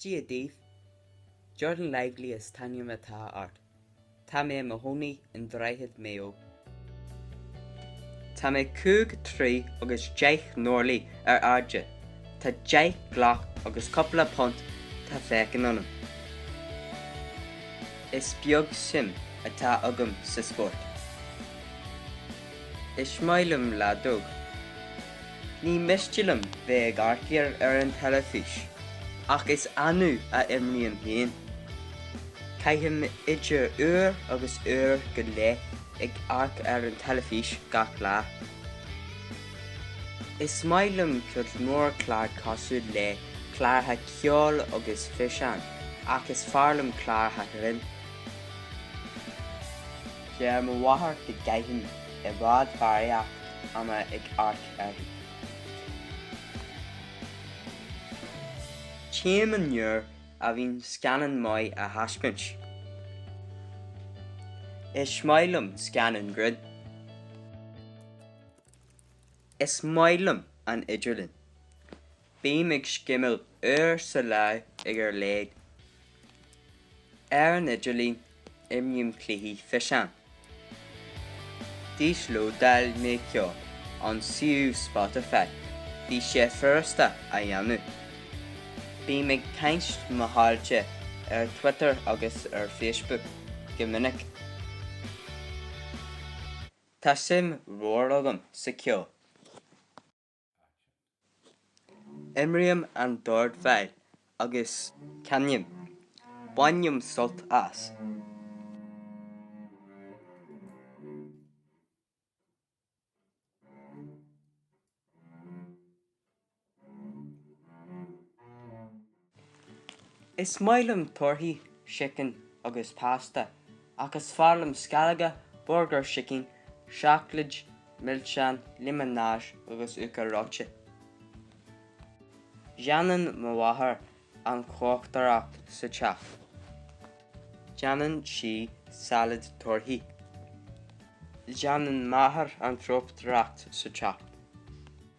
Dia daoibh. Jordan Lively is ainm atá ort. Tá mé i mo chónaí i nDroichead Mayo. Tá mé cúig troigh agus deich n-orlaí ar airde. Tá deich gcloch agus cúpla punt de mheáchan ionam. Is beag suim atá agam sa spórt. Is maith liom leadóg. Ní miste liom bheith ag amharc air ar an teilifís, ach is annamh a imrím féin. Caithim idir uair agus uair go leith ag amharc ar an teilifís gach lá. Is maith liom cuid mhór clár cosúil le cláracha ceoil agus fiseáin, ach is fearr liom cláracha grinn. Deir mo mháthair go gcaithim i bhfad barraíocht ama ag amharc uirthi. Téim ann nuair a bhíonn scannán maith á thaispeáint. Is maith liom scannáin grinn. Is maith liom an idirlíon. Bím ag scimeáil uair sa lá ar a laghad. Ar an idirlíon, imrím cluichí fiseáin. D'íoslódáil mé ceol ón suíomh Spotify, bhí sé furasta a dhéanamh. Bím ag caint le mo chairde ar Twitter agus ar Facebook go minic. Tá suim mhór agam sa ceol. Imrím an dordveidhil agus canaim. Bainim sult as. Is maith liom torthaí, sicin agus pasta, ach is fearr liom sceallóga, burgair sicín, seacláid, milseáin, liomanáid agus uachtar reoite. Déanann mo mháthair an chócaireacht sa teach. Déanann sí sailéad torthaí. Déanann m'athair an chócaireacht sa teach.